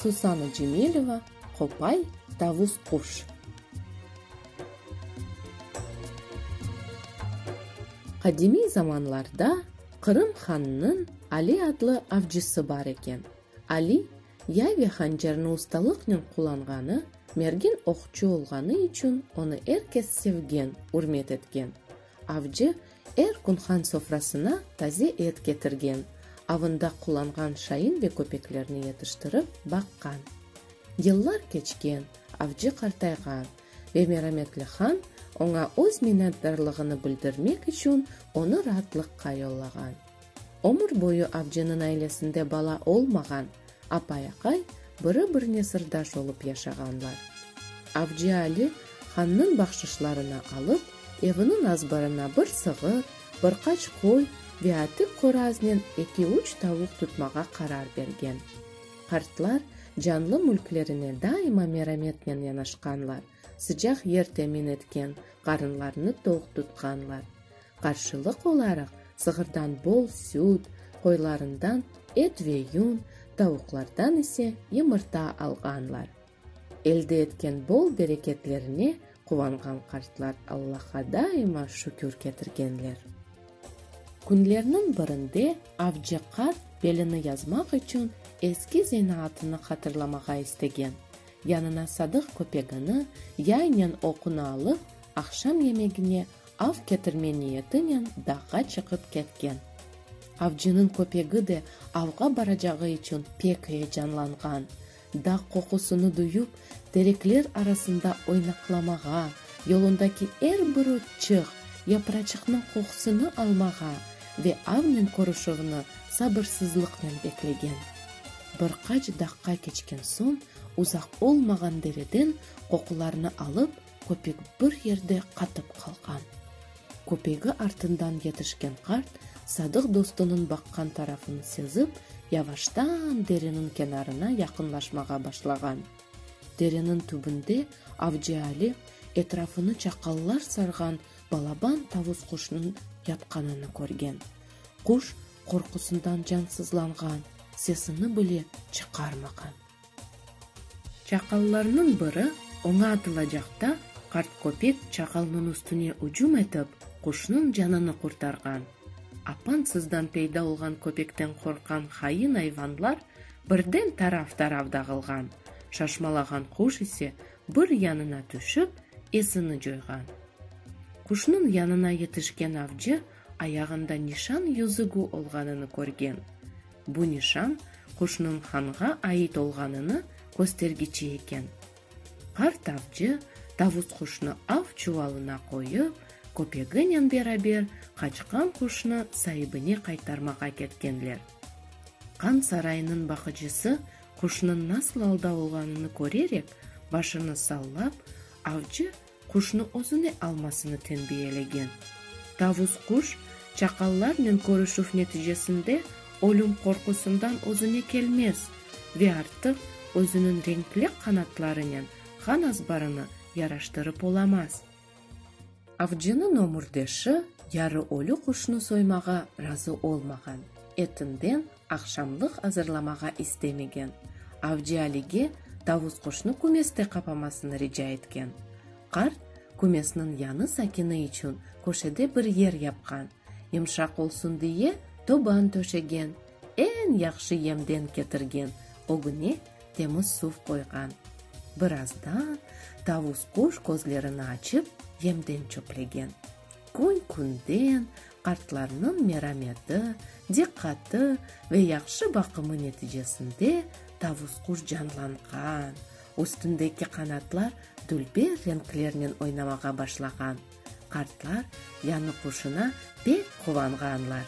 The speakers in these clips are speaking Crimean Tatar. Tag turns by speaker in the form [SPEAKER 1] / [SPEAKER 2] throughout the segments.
[SPEAKER 1] Susana Cemileva, Qopay, tavus quş. Qadimiy zamanlarda Qırım hannıñ Ali adlı avcısı bar eken. Ali, yay ve hancarnı ustalıqnen qullanğanı, mergen oqçu olğanı içün onı er kes sevgen, ürmet etgen. Avcı er kün han sofrasına taze et ketirgen, avında qullanğan şayın ve köpeklerni yetiştirip baqqan. Yıllar keçken, avcı qartayğan ve merametli han oña öz minnetdarlığını bildirmek içün onı raatlıqqa yollağan. Ömür boyu avcınıñ ailesinde bala olmağan apay-aqay biri-birine sırdaş olıp yaşağanlar. Avcı Ali hannıñ bahşışlarını alıp, eviniñ azbarına bir sığır, bir qaç qoy ve atik qoraznen eki-üç tavuq tutmağa qarar bergen. Qartlar canlı mülklerine daima merametnen yanaşqanlar, sıcaq yer temin etken, qarınlarını toq tutqanlar. Qarşılıq olaraq sığırdan bol süt, qoylarından et ve yun, tavuqlardan ise yımırta alğanlar. Elde etken bol bereketlerine quvanğan qartlar Allaha daima şükür ketirgenler. Künlerniñ birinde avcı qart belini yazmaq içün eski zenaatını hatırlamağa istegen, yanına sadıq köpegini, yaynen oqunı alıp, aqşam yemegine av ketirme niyetinen dağğa çıqıp ketken. Avcınıñ köpegi de avğa baracağı içün pek eyecanlanğan, dağ qoqusını duyıp, terekler arasında oynaqlamağa, yolundaki er bir otçıq, yapraçıqnıñ qoqusını almağa ve avnen körüşüvni sabırsızlıqnen beklegen. Bir qaç daqqa keçken soñ, uzaq olmağan dereden qoqularnı alıp, köpek bir yerde qatıp qalğan. Köpegi artından yetişken qart sadıq dostunıñ baqqan tarafın sezip, yavaştan dereniñ kenarına yaqınlaşmağa başlağan. Dereniñ tübünde Avcıali etrafını çaqallar sarğan balaban tavus quşnıñ yatqanını körgen. Quş qorqusından cansızlanğan, sesini bile çıqarmağan. Çaqallarnıñ biri oña atılacaqta, qart köpek çaqalnıñ üstüne ücüm etip, quşnıñ canını qurtarğan. Apansızdan peyda olğan köpekten qorqqan hain ayvanlar birden taraf-taraf dağılğan, şaşmalağan quş ise bir yanına tüşip, esini coyğan. Quşnıñ yanına yetişken avcı Ayağında nişan yüzügü olğanını körgen. Bu nişan Quşnun hanğa ait olğanını köstergiçi eken. Qart avcı Tavus quşnı av çuvalına qoyıp, köpeginen beraber qaçqan quşnı saibine qaytarmağa ketkenler. Qan sarayınıñ baqıcısı quşnıñ nasıl alda olğanını körerek, başını sallap, avcı quşnı özüne almasını tenbiyelegen. Tavus-quş, çaqallarnen körüşüv neticesinde ölüm qorqusından özüne kelmez ve artıq özüniñ renkli qanatlarınen han azbarını yaraştırıp olamaz. Avcınıñ ömürdeşi yarı ölü quşnı soymağa razı olmağan, etinden Aqşamlıq azırlamağa istemegen. Avcı Alige tavus-quşnı kümeste qapamasını rica etken. Qart kümesniñ yanı sakini içün köşede bir yer yapqan, yımşaq olsun diye toban töşegen, eñ yahşı yemden ketirgen ögüne temiz suv qoyğan. Birazdan tavus-quş közlerini açıp, yemden çöplegen. Kün-künden Qartlarnıñ merameti, diqqatı ve yahşı baqımı neticesinde tavus-quş canlanğan, üstündeki qanatlar dülber renklernen oynamağa başlağan. Qartlar yanı quşuna pek quvanğanlar.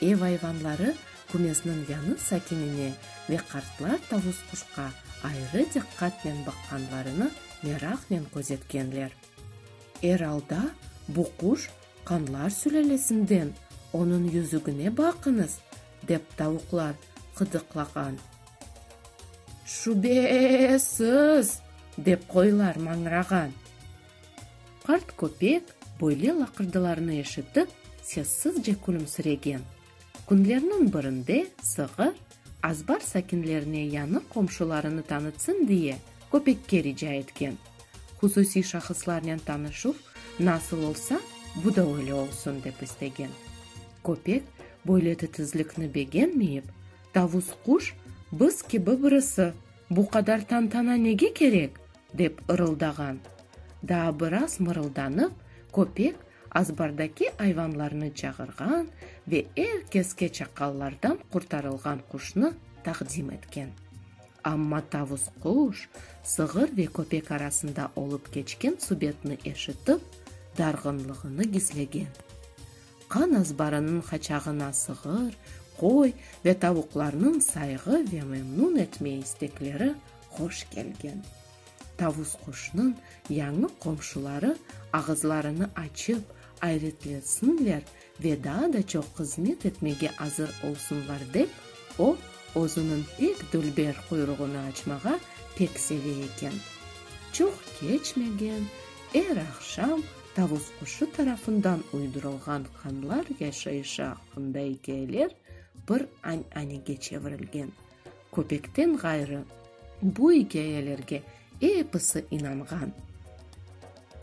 [SPEAKER 1] Ev ayvanları kümesniñ yanı sakinine ve qartlar tavus-quşqa ayrı diqqatnen baqqanlarını meraqnen közetkenler. Er alda, bu quş Qanlar sülelesinden onıñ yüzügine baqıñız, dep tavuqlar qıdıqlağan. Şübesiz! dep qoylar mañrağan. Qart köpek böyle laqırdılarnı eşitip, sessizce külümsiregen. Künlerniñ birinde sığır, azbar sakinlerine yañı qomşularını tanıtsın diye, köpekke rica etken. Hususiy şahıslarnen tanışuv nasıl olsa, bu da öyle olsun, dep istegen. Köpek böyle titizlikni begenmeyip, tavus-quş, bız kibi birisi, bu qadar tantana nege kerek? dep ırıldağan. Daa biraz mırıldanıp, köpek Azbardaki ayvanlarnı çağırğan ve er keske çaqallardan qurtarılğan quşnı taqdim etken. Amma tavus quş, sığır ve köpek arasında olıp keçken subetni eşitip, darğınlığını gizlegen. Qan azbarınıñ qaçağına sığır, qoy ve tavuqlarnıñ sayğı ve memnun etme istekleri hoş kelgen. Tavus quşnıñ yañı qomşuları ağızlarını açıp ayretlensinler ve daa da çoq hızmet etmege azır olsunlar dep, o, özüniñ pek dülber quyruğını açmağa pek seve eken. Çoq keçmegen, er aqşam tavus quşu tarafından uydurılğan hanlar yaşayışı aqqında ikâyeler bir añ-anege çevirilgen. Köpekten ğayrı, bu ikâyelerge episi inanğan.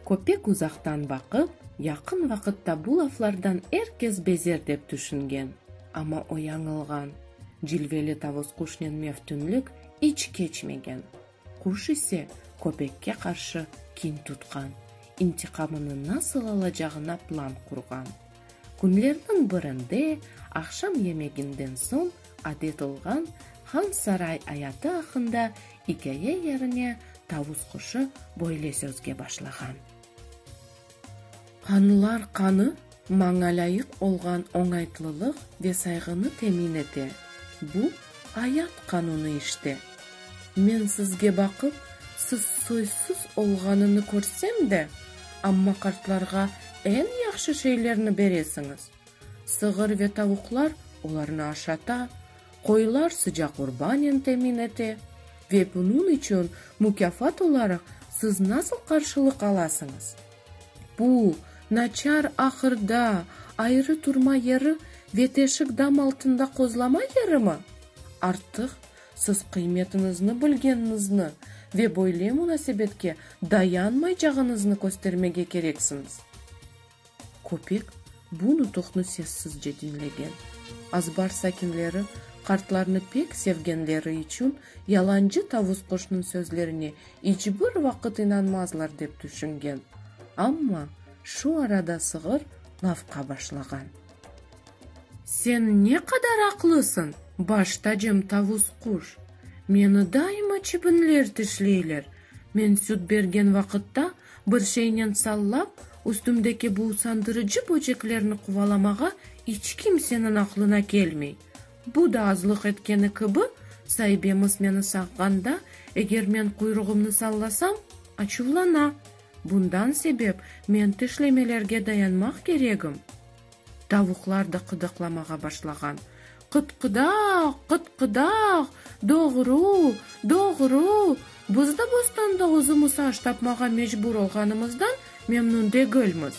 [SPEAKER 1] Köpek uzaqtan baqıp, yaqın vaqıtta bu laflardan er kes bezer dep tüşüngen. Amma o yañılğan. Cilveli tavus-quşnen meftünlik iç keçmegen. Quş ise köpekke qarşı kin tutqan, intiqamını nasıl alacağına plan qurğan. Künlerniñ birinde, aqşam yemeginden soñ adet olğan Han saray ayatı aqqında ikâye yerine tavus quşu böyle sözge başlağan. Qanlılar qanı, maña lâyıq olğan oñaytlılıq ve sayğını temin ete. Bu, ayat qanunı işte. Men sizge baqıp, siz soysuz olğanını körsem de, amma qartlarğa eñ yahşı şeylerni beresiñiz. Sığır ve tavuqlar olarnı aşata, qoyular sıcaq urbanen temin ete, ve bunıñ içün mukâfat olaraq siz nasıl qarşılıq alasıñız? Bu, naçar ahırda, ayrı turma yeri ve teşik dam altında qozlama yerimi? Artıq siz qıymetiñizni bilgeniñizni ve böyle munasebetke dayanmaycağıñıznı köstermege kereksiñiz. Köpek bu nutuqnı sessizce diñlegen. Azbar sakinleri qartlarnı pek sevgenleri içün yalancı tavus qoşnıñ sözlerine iç bir vaqıt inanmazlar dep tüşüngen. Amma şu arada sığır lafqa başlağan. Sen ne qadar aqlısıñ, baş tacım tavus quş! Meni daima çibinler tişleyler, men süt bergen vaqıtta Bir şeynen sallap, üstümdeki bu usandırıcı böceklerni quvalamağa iç kimseniñ aqlına kelmey. Bu da azlıq etkeni kibi, saibemiz meni saqğanda, eger men quyruğımnı sallasam, açuvlana. Bundan sebep men tişlemelerge dayanmaq keregim. Tavuqlar da qıdaqlamağa başlağan, Qıt-qıdaq, qıt-qıdaq, doğru, doğru! Biz de bostanda özümiz aş tapmağa mecbur olğanımızdan memnün degilmiz.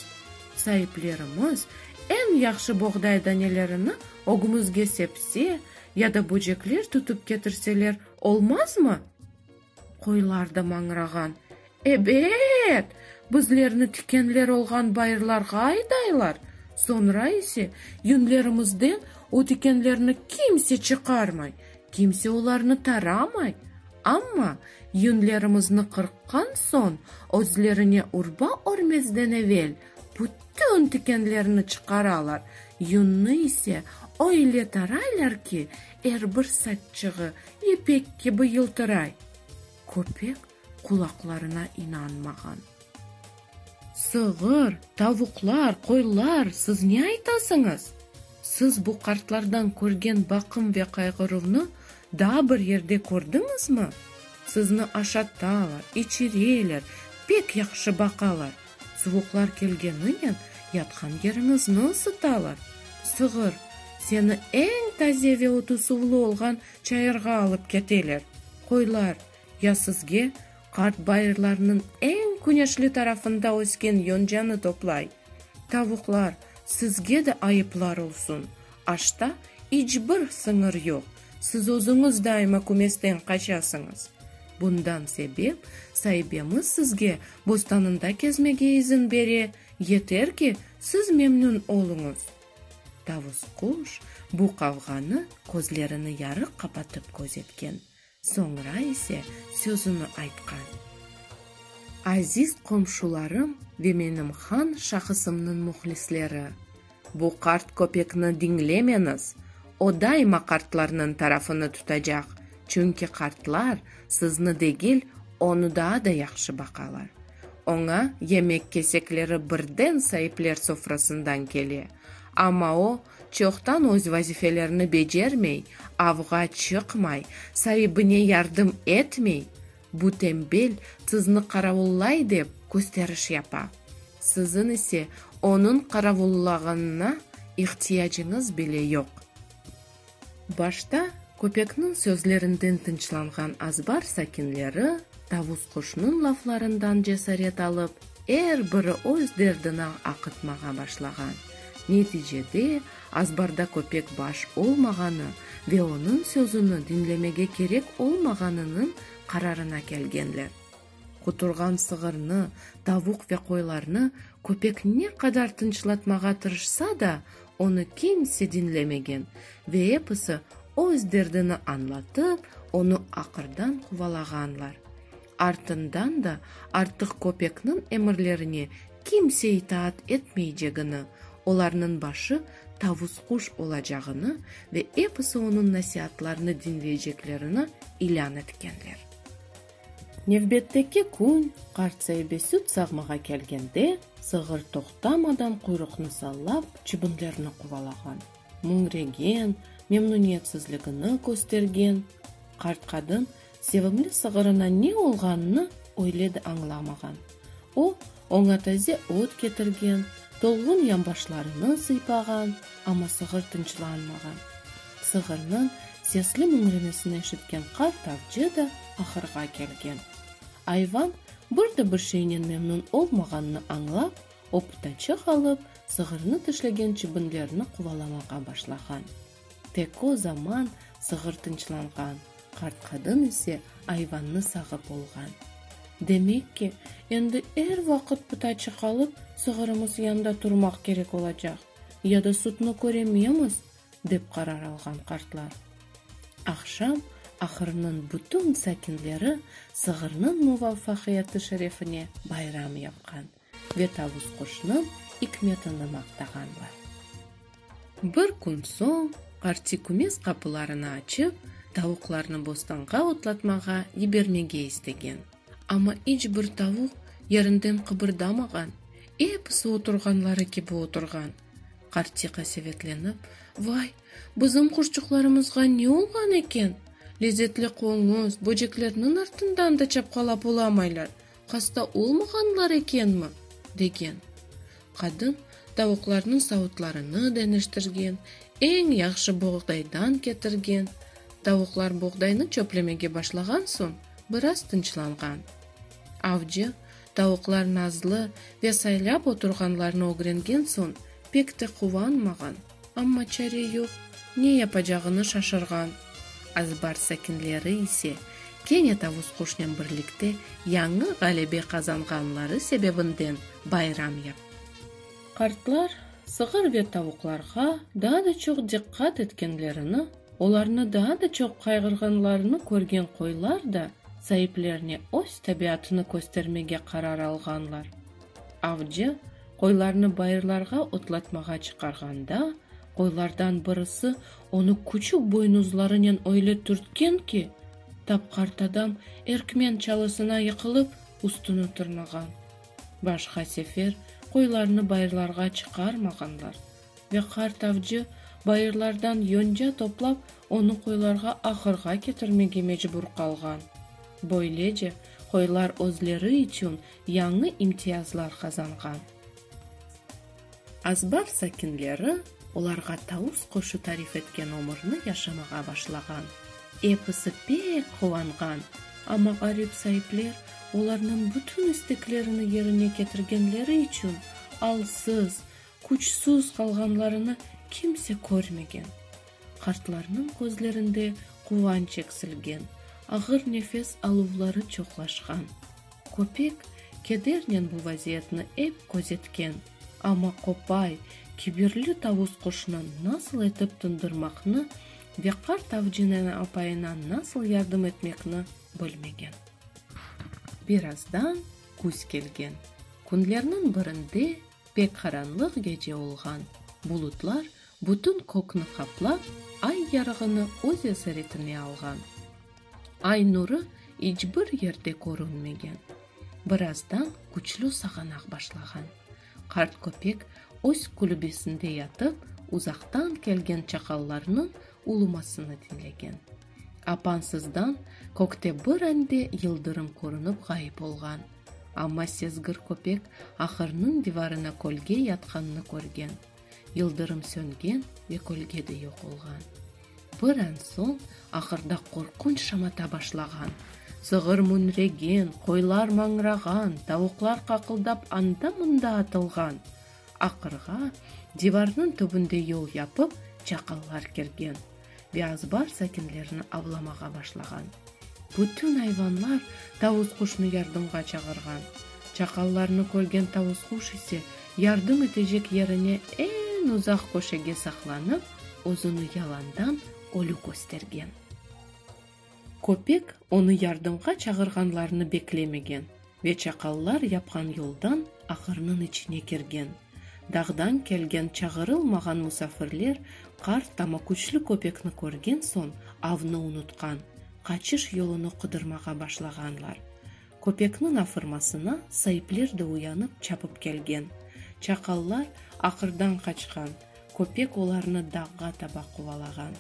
[SPEAKER 1] Saiplerimiz eñ yahşı boğday danelerini ögümizge sepse ya da böcekler tutıp ketirseler olmazmı? Qoylar da mañrağan. Ebet! Bizlerni tikenler olğan bayırlarğa aydaylar, soñra ise yüñlerimizden o tikenlerni kimse çıqarmay, kimse olarnı taramay. Amma yüñlerimizni qırqqan soñ, özlerine urba örmezden evel bütün tikenlerni çıqaralar, yüñni ise öyle taraylar ki, Er bir saççığı ipek kibi yıltıray. Köpek qulaqlarına inanmağan. Sığır, tavuqlar, qoylar, siz ne aytasıñız? Siz bu qartlardan körgen baqım ve qayğıruvnı daa bir yerde kördiñizmi? Sizni aşatalar, içireler, pek yahşı baqalar. Suvuqlar kelgeniyen yatqan yeriñizni ısıtalar. Sığır, seni eñ taze ve otu suvlu olğan çayırğa alıp keteler. Qoylar, ya sizge qart bayırlarnıñ eñ küneşli tarafında ösken yoncanı toplay. Tavuqlar, sizge de ayıplar olsun, Aşta iç bir sıñır yoq, siz özüñiz daima kümesten qaçasıñız. Bundan sebep, saibemiz sizge bostanında kezmege izin bere, yeter ki, siz memnün oluñız. Tavus quş bu qavğanı közlerini yarıq qapatıp közetken Soñra ise sözüni aytqan. Aziz qomşularım ve menim han şahısımnıñ muhlisleri, bu qart köpekni diñlemeñiz, o daima qartlarnıñ tarafını tutacaq, çünki qartlar sizni degil, onı daa da yahşı baqalar. Oña yemek kesekleri birden saipler sofrasından kele. Amma o, çoqtan öz vazifelerini becermey, avğa çıqmay, saibine yardım etmey, bu tembel sizni qaravullay dep kösteriş yapa. Siziñ ise onıñ qaravullağanına ihtiyacıñız bile yoq. Başta köpekniñ sözlerinden tınçlanğan azbar sakinleri Tavusquşnıñ laflarından cesaret alıp, er biri öz derdini aqıtmağa başlağan. Neticede, azbarda köpek baş olmağanı ve onıñ sözüni diñlemege kerek olmağanınıñ qararına kelgenler. Quturğan sığırnı, tavuq ve qoylarnı köpek ne qadar tınçlatmağa tırışsa da, onı kimse diñlemegen ve episi öz derdini añlatıp, onı aqırdan quvalağanlar. Artından da artıq köpekniñ emirlerine kimse itaat etmeycegini, olarnıñ başı tavus-quş olacağını ve episi onıñ nasiatlarını diñleyceklerini ilân etkenler. Nevbetteki kün qartsaybe süt sağmağa kelgende, sığır toqtamadan quyruqnı sallap, çibinlerni quvalağan, müñregen, memnuniyetsizligini köstergen. Qart qadın sevimli sığırına ne olğanını öyle de añlamağan. O, oña taze ot ketirgen, tolğun yanbaşlarını sıypağan, amma sığır tınçlanmağan. Sığırnıñ sesli müñremesini eşitken qart avcı da ahırğa kelgen. Ayvan bir de bir şeynen memnun olmağanını añlap, o pıtaçıq alıp, sığırnı tişlegen çibinlerni quvalamağa başlağan. Tek o zaman sığır tınçlanğan, qart qadın ise ayvannı sağıp olğan. Demek ki, endi er vaqıt pıta çıqalıp, sığırımız yanda turmaq kerek olacaq, ya da sutnı körememiz, dep qarar alğan qartlar. Aqşam ahırnıñ bütün sakinleri sığırnıñ muvafaqiyatı şerefine bayram yapqan. ve tavus quşnıñ ikmetini maqtağanlar. Bir kün soñ Arti kümes qapılarını açıp, tavuqlarnı bostanğa otlatmağa yibermege istegen. Amma iç bir tavuq yerinden qıbırdamağan, episi oturğanları kibi oturğan. Arti qasevetlenip, Vay, bizim quşçuqlarımızğa ne olğan eken? Lezetli qoñuz, böceklerniñ artından da çapqalap olamaylar. Hasta olmağanlar ekenmi? degen. Qadın tavuqlarnıñ savutlarını deñiştirgen, eñ yahşı boğdaydan ketirgen. Tavuqlar boğdaynı çöplemege başlağan soñ, biraz tınçlanğan. Avcı, tavuqlar nazlı ve saylap oturğanlarını ögrengen soñ, pek te quvanmağan. Amma çare yoq, ne yapacağını şaşırğan Azbar sakinleri ise, kene Tavus-quşnen birlikte yañı ğalebe qazanğanları sebebinden bayram yaptılar. Qartlar sığır ve tavuqlarğa daa da çoq diqqat etkenlerini, olarnı daa da çoq qayğırğanlarını körgen qoylar da saiplerine öz tabiatını köstermege qarar alğanlar. Avcı qoylarnı bayırlarğa otlatmağa çıqarğanda, qoylardan birisi onı küçük boynuzlarınen öyle türtken ki, tapqartadam erkmen çalısına yıqılıp, üstüni tırnağan. Başqa sefer qoylarnı bayırlarğa çıqarmağanlar ve qart avcı bayırlardan yonca toplap, onı qoylarğa ahırğa ketirmege mecbur qalğan. Böylece qoylar özleri içün yañı imtiyazlar qazanğan. Azbar sakinleri olarğa Taus qoşu tarif etken ömürni yaşamağa başlağan. Episi pek quvanğan, amma ğarip saipler olarnıñ bütün isteklerini yerine ketirgenleri içün alsız, küçsüz qalğanlarını kimse körmegen. Qartlarnıñ közlerinde quvanç eksilgen, ağır nefes aluvları çoqlaşğan. Köpek kedernen bu vaziyetni ep közetken, amma qopay, kibirli tavus-quşnı nasıl etip tındırmaqnı ve qart avcınena apayına nasıl yardım etmekni bilmegen. Birazdan küz kelgen. Künlerniñ birinde pek qaranlıq gece olğan. Bulutlar bütün kökni qaplap, ay yarığını öz esaretine alğan. Ay nuru iç bir yerde körünmegen. Birazdan küçlü sağanaq başlağan. Qart köpek öz külübesinde yatıp, uzaqtan kelgen çaqallarnıñ ulumasını diñlegen. Apansızdan kökte bir ande yıldırım körünip ğayıp olğan. Amma sezgir köpek ahırnıñ divarına kölge yatqannı körgen. Yıldırım söngen ve kölge de yoq olğan. Bir an soñ ahırda qorqunç şamata başlağan. Sığır müñregen, qoylar mañrağan, tavuqlar qaqıldap anda-mında atılğan. Aqırğa, divarnıñ tübünde yol yapıp, çaqallar kirgen ve azbar sakinlerini avlamağa başlağan. Bütün ayvanlar tavus-quşnı yardımğa çağırğan. Çaqallarnı körgen tavus-quş ise yardım etecek yerine eñ uzaq köşege saqlanıp, özüni yalandan ölü köstergen. Köpek onı yardımğa çağırğanlarını beklemegen ve çaqallar yapqan yoldan aqırnıñ içine kirgen. Dağdan kelgen çağırılmağan musafirler qart ama küçlü köpekni körgen soñ avnı unutqan, qaçış yolunı qıdırmağa başlağanlar. Köpekniñ afırmasına saipler de uyanıp çapıp kelgen. Çaqallar aqırdan qaçqan. Köpek olarnı dağğa taba qovalağan.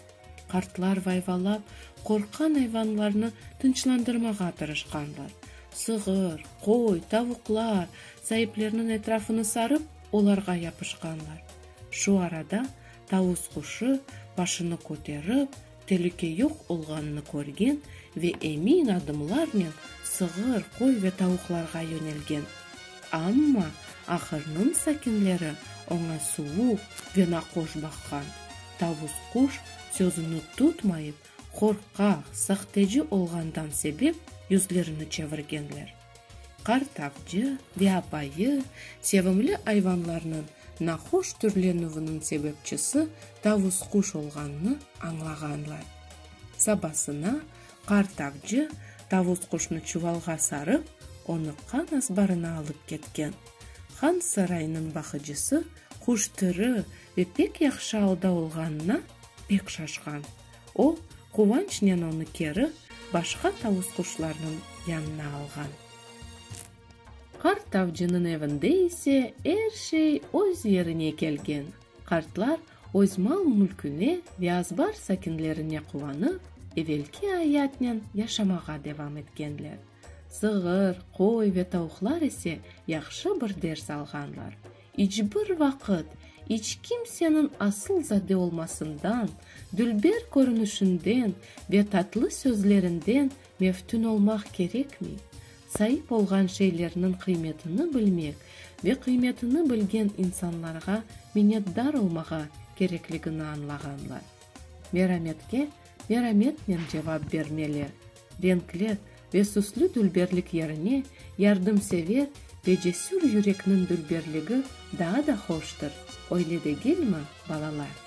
[SPEAKER 1] Qartlar vayvalap, qorqqan ayvanlarnı tınçlandırmağa tırışqanlar. Sığır, qoy, tavuqlar, saiplerniñ etrafını sarıp, olarğa yapışqanlar. Şu arada tavus quşu, başını köterip, Telüke yoq olğanını körgen ve emin adımlarnen sığır, qoy ve tavuqlarğa yönelgen. Amma ahırnıñ sakinleri oña suvuq ve naqoş baqqan. Tavus-quş sözüni tutmayıp, qorqaq, sahteci olğandan sebep yüzlerini çevirgenler. Qart avcı ve apayı sevimli ayvanlarnıñ nahoş türlenüviniñ sebepçisi tavus-quş olğanını añlağanlar. Sabasına qart avcı tavus-quşnı çuvalğa sarıp, onı qan azbarına alıp ketken. Han saraynıñ baqıcısı quş tiri ve pek yahşı alda olğanına pek şaşqan. O, quvançnen onı keri başqa tavusquşlarnıñ yanına alğan. Qart avcınıñ evinde ise er şey öz yerine kelgen, qartlar öz mal-mülküne ve azbar sakinlerine quvanıp, evelki ayatnen yaşamağa devam etkenler. Sığır, qoy ve tavuqlar ise yahşı bir ders alğanlar, İç bir vaqıt, iç kimseniñ asıl zade olmasından, dülber körünişinden ve tatlı sözlerinden meftün olmaq kerekmey. Saip olğan şeylerniñ qıymetini bilmek ve qıymetini bilgen insanlarğa minnetdar olmağa kerekligini añlağanlar. Merametke merametnen cevap bermeli. renkli ve süslü dülberlik yerine yardımsever ve cesür yürekniñ dülberligi daa da hoştır, öyle degilmi, balalar?